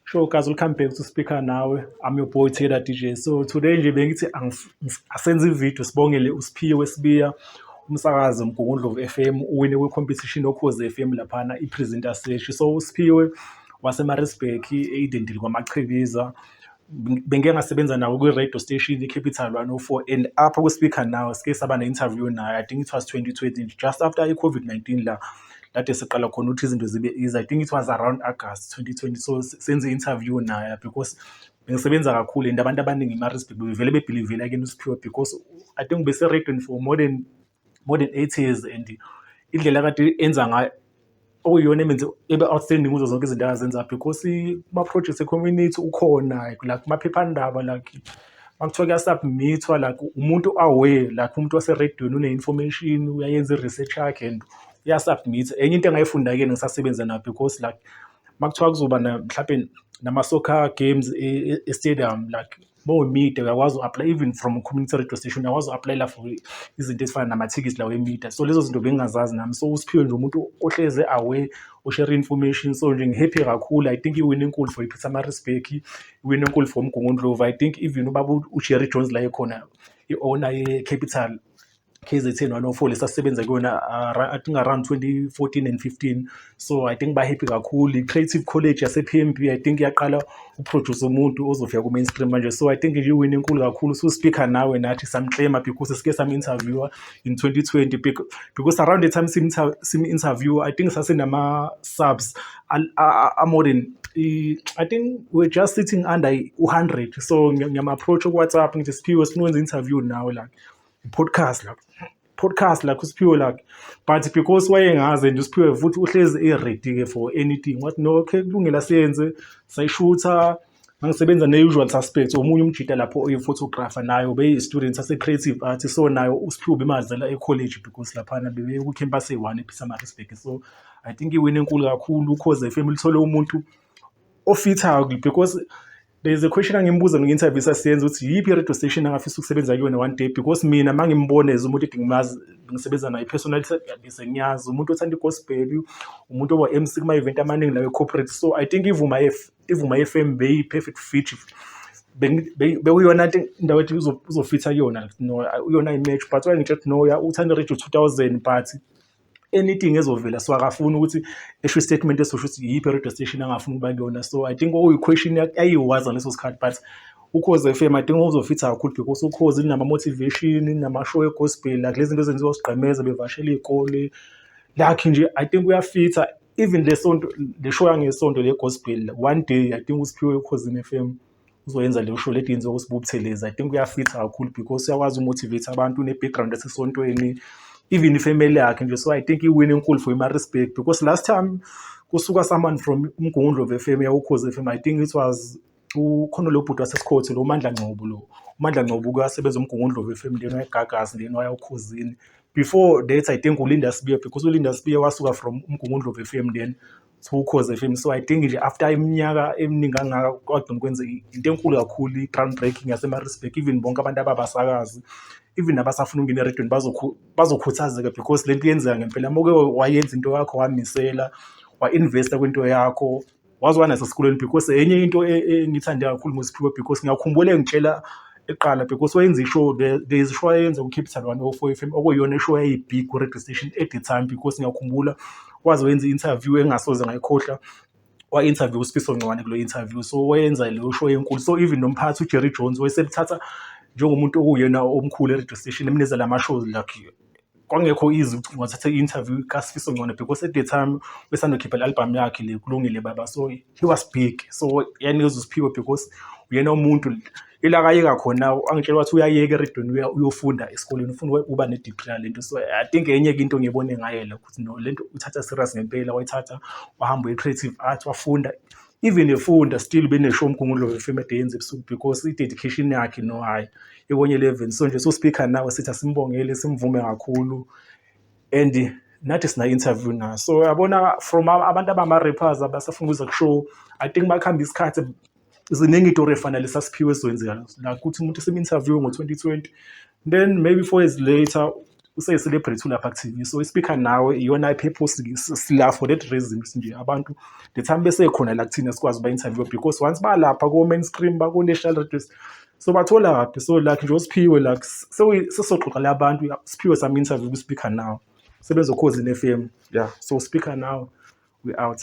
Sure, guys, welcome back to Speaker Nawe. I'm your boy Taylor DJ. So today nje bengithi asenze ivideo sibongele uSiphiwe Wesibiya umsakazi Mgungundlovu FM uwine kwi competition okhoze FM laphana i presenter sesh. So uSiphiwe waseMaritzburg eidentile kwaMachibiza. bengike ngasebenza nawo kwi-radio station i-capital 104 and apha kwi-speaker now sike saba ne-interview nayo i think it was 2020 just after i-covid-19 la lade siqala khona ukuthi izinto zibe easy i think it was around august 2020 so senze i-interview nayo because bengisebenza kakhulu and abantu abaningi emarisburg bevele bebhilivela kena usiphiwe because i think bese-radion for more than more than eight years and indlela kade enza ngayo okuyiyona emenze ebe outstanding kuzo zonke izinto azenza because kuma-projects e-community ukhona like kumaphephandaba like makuthiwa kuyasubmithwa like umuntu aware like umuntu waserediyoni une-information uyayenza i-research yakhe and uyasubmitha enye into engayifunda-ke ngisasebenza nayo because like makuthiwa kuzoba mhlawumbe nama-soccer games e-stadium e, e, like bowemida uyakwazi u-apply even from community radio station uyakwazi u-aplayela for izinto ezifana namathikithi lawo emida so lezo zinto bengingazazi nami so usiphiwe nje umuntu ohleze away ushare information so nje ngihappy kakhulu i think iwin enkulu for ipeter marisburg iwin enkulu for umgungundlovu i think even ubaba ujerry jones la ekhona i-owner ye-capital KZN one of all esasebenza kuyona uh, I think around 2014 and 15 so I think bahappy kakhulu i-creative college yase-PMB I think yaqala uproduce umuntu ozofika ku-mainstream manje so I think iwini enkulu kakhulu so speaker nawe nathi samclaima because sike sam-interviewer in 2020 because around the time sim-interviewer I think sasenama-subs amore than I think we're just sitting under 100 so ngiyama-approach ku-whatsapp ngithi siphiwe sinokwenza interview nawe like podcast la podcast lakho usiphiwe lakhe but because wayengazi and usiphiwe futhi uhlezi e-ready ke for anything wathi no okay kulungela siyenze sayishutha ngisebenza ne-usual suspects omunye umjita lapho oyi-photographer nayo beyi-student ase-creative art so nayo usiphiwe bemazela e-college because laphana bebekucampus eyi-one ephisamarisburg so i think iwini enkulu kakhulu cause fm lithole umuntu ofithayo because there is a question angimbuza mina interview sasiyenza ukuthi yiphi i radio station angafisa ukusebenza kuyona one day because mina mangimbone as umuntu ethi ngimazi ngisebenza naye personally bese ngiyazi umuntu othanda i-gospel umuntu oba MC kuma event amaningi nawe corporate so i think ivuma if ivuma FM be perfect fit bekuyona indawo ethi uzofitha kuyona no uyona i-match but wayengitshe ukuthi no uthanda radio 2000 but anything ezovela so akafuni ukuthi esho istatement esosho ukuthi yiphi radio station angafuni ukuba kuyona so i think okuyi-question ayiwaza ngaleso sikhathi but ukhozi FM i think uzofitha kakhulu because ukhozi linama-motivation inamashow egospel like lezi zinto ezenziwa sigqemeza bevashela iy'kole lakhe nje i think uyafitha even le sonto le show yangesonto le gospel one day i think usiphiwe ekhozini FM. uzoyenza leyo show lady yenziwa uSbu Buthelezi i think uyafitha kakhulu because uyakwazi umotivate abantu ne-background yasesontweni even ifamily yakhe nje so i think iwin enkulu for imarespect because last time kusuka someone from umgungundlo of fm yawukhoze fm i think it was ukhona lo bhuti wasesikhothi lo mandla ngcobo lo umandla ngcobo kuyasebenza umgungundlo of fm lena wayegagasi lena wayawukhozini before that i think ulinda sibiya because ulinda sibiya wasuka from umgungundlo of fm then Ukhoze FM so I think nje after iminyaka eminingi kangaka kwaduma kwenze into enkulu kakhulu i-ground breaking yaseMaritzburg even bonke abantu ababasakazi even abasafuna ukungena eredweni bazokhuthazeka because le nto yenzeka ngempela moke wayenza into yakho wamisela wa-investa kwinto yakho waze wanaso esikolweni because enye into e, e, engiyithande kakhulu ngosiphiwe because ngiyakhumbula engitshela eqala because wayenza ishow there is show ayenza kuCapital One o-Four FM okuyiyona ishow eyayibig ku-radio station at the time because ngiyakhumbula waze wenza i-interview engasoze ngayikhohlwa wa-interview uSifiso Ncwane kulo interview so wayenza leyo show enkulu so even nomphathi uJerry Jones wayeselithatha njengomuntu okuwuyena omkhulu e-radio station emnezela ama-shows lakhe kwangekho easy ukuthi ngathatha i-interview kaSifiso Ngcono because at the time besanda kukhipha i-album yakhe le kulungile baba so he was big so yanikezwa usiphiwe because uyena umuntu ila kayeka khona angitshela ukuthi uyayeka eredweni uyofunda esikoleni ufuna ukuba ne-degree yale nto so i think enye ke into ngiyibone ngaye le ukuthi no le nto uthatha serious ngempela wayithatha wahamba uye-creative art wafunda even efunda still benesho umgungulo wefilm at yenza ebusuku because i-dedication yakhe no hhayi ikonye eleven so nje so-speaker nawe sithi asimbongele simvume kakhulu and nathi sina-interview nayo so yabona from abantu abama-rappers abasafuna ukuza kushow i think bakuhamba isikhathi ziningi itori efanele sasiphiwe ezweni zikala la kuthi umuntu simu-interview ngo-twenty twenty then maybe four years later useyicelebrate ulapha ku-tv so ispeaker nawe iyona i-purpose sila for that reason nje abantu the time besekhona la kuthina sikwazi uba-interview because once balapha ko-main stream bako-national radio so bathola kaphi so like nje usiphiwe like sesoxoxa la bantu siphiwe some interview kwi-speaker now sebezokhozi ne-f m yeah so speaker now we out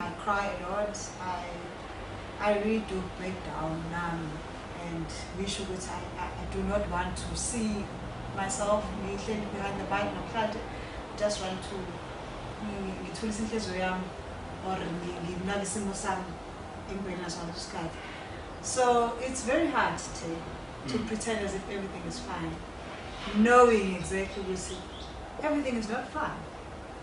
I cry a lot, I, I really do break down nami and ngisho ukuthi I, I, I do not want to see myself ngihleli behind the bike namhlanje just want to ngithulise inhliziyo yami or nginake isimo sami empilweni naso ngaleso sikhathi so it's very hard to, to mm. pretend as if everything is fine knowing exactly ukuthi everything is not fine